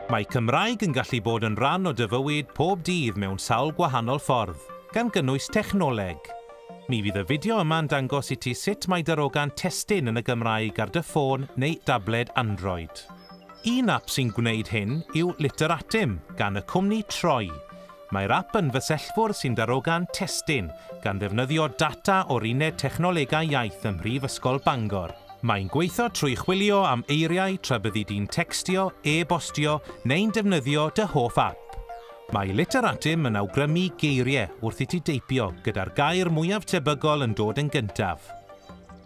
Mae Cymraeg yn gallu bod yn rhan o dy fywyd pob dydd mewn sawl gwahanol ffordd, gan gynnwys technoleg. Mi fydd y fideo yma'n dangos i ti sut mae darogan testun yn y Gymraeg ar dy ffôn neu dabled Android. Un ap sy'n gwneud hyn yw Literatim, gan y cwmni Troi. Mae'r ap yn fysellfwrdd sy'n darogan testun, gan ddefnyddio data o'r Uned Technolegau Iaith ym Mhrifysgol Bangor. Mae'n gweithio trwy chwilio am eiriau tra byddi di'n tecstio, e-bostio neu'n defnyddio dy hoff ap. Mae Literatim yn awgrymu geiriau wrth i ti deipio, gyda'r gair mwyaf tebygol yn dod yn gyntaf.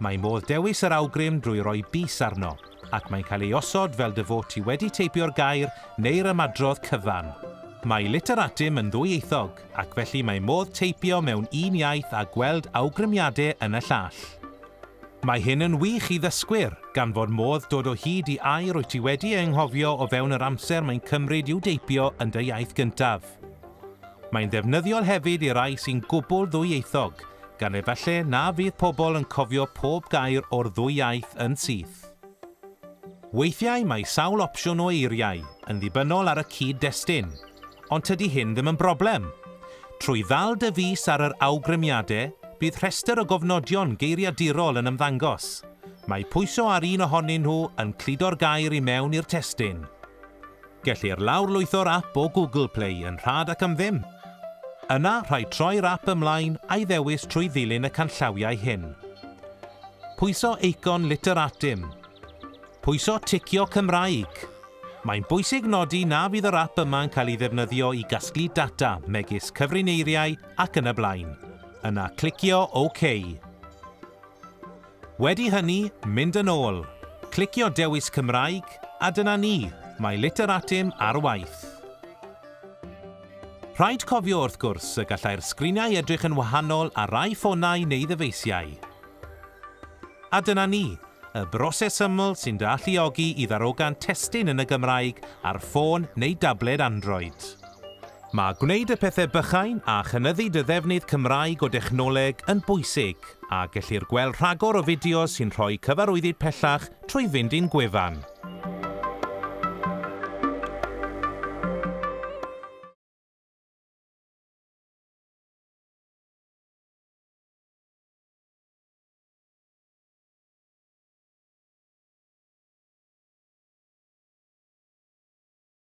Mae modd dewis yr awgrym drwy roi bys arno. ac mae'n cael ei osod fel dy fod ti wedi teipio'r gair neu'r ymadrodd cyfan. Mae Literatim yn ddwyieithog, ac felly mae modd teipio mewn un iaith a gweld awgrymiadau yn y llall. Mae hyn yn wych i ddysgwyr, gan fod modd dod o hyd i air wyt ti wedi ei anghofio o fewn yr amser mae'n cymryd i'w deipio yn dy iaith gyntaf. Mae'n ddefnyddiol hefyd i rai sy'n gwbl ddwyieithog, gan efallai na fydd pobl yn cofio pob gair o'r ddwy iaith yn syth. Weithiau mae sawl opsiwn o eiriau yn ddibynnol ar y cyd-destun, ond tydi hyn ddim yn broblem. Trwy ddal dy fys ar yr awgrymiadau, bydd rhestr o gofnodion geiriadurol yn ymddangos. Mae pwyso ar un ohonyn nhw yn cludo'r gair i mewn i'r testun. Gellir lawrlwytho'r ap o Google Play yn rhad ac am ddim. Yna, rhaid troi'r ap ymlaen a'i ddewis trwy ddilyn y canllawiau hyn. Pwyso eicon Literatim. Pwyso ticio Cymraeg. Mae'n bwysig nodi na fydd yr ap yma'n cael ei ddefnyddio i gasglu data, megis cyfriniaeiriau ac yn y blaen. Yna clicio OK. Wedi hynny, mynd yn ôl, clicio dewis Cymraeg, a dyna ni, mae Literatim ar waith. Rhaid cofio, wrth gwrs, y gallai'r sgriniau edrych yn wahanol ar rai ffonau neu ddyfeisiau. A dyna ni, y broses syml sy'n dy alluogi i ddarogan testun yn y Gymraeg ar ffôn neu dabled Android. Mae gwneud y pethau bychain a chynyddu dy ddefnydd Cymraeg o dechnoleg yn bwysig, a gellir gweld rhagor o fideos sy'n rhoi cyfarwyddyd pellach trwy fynd i'n gwefan.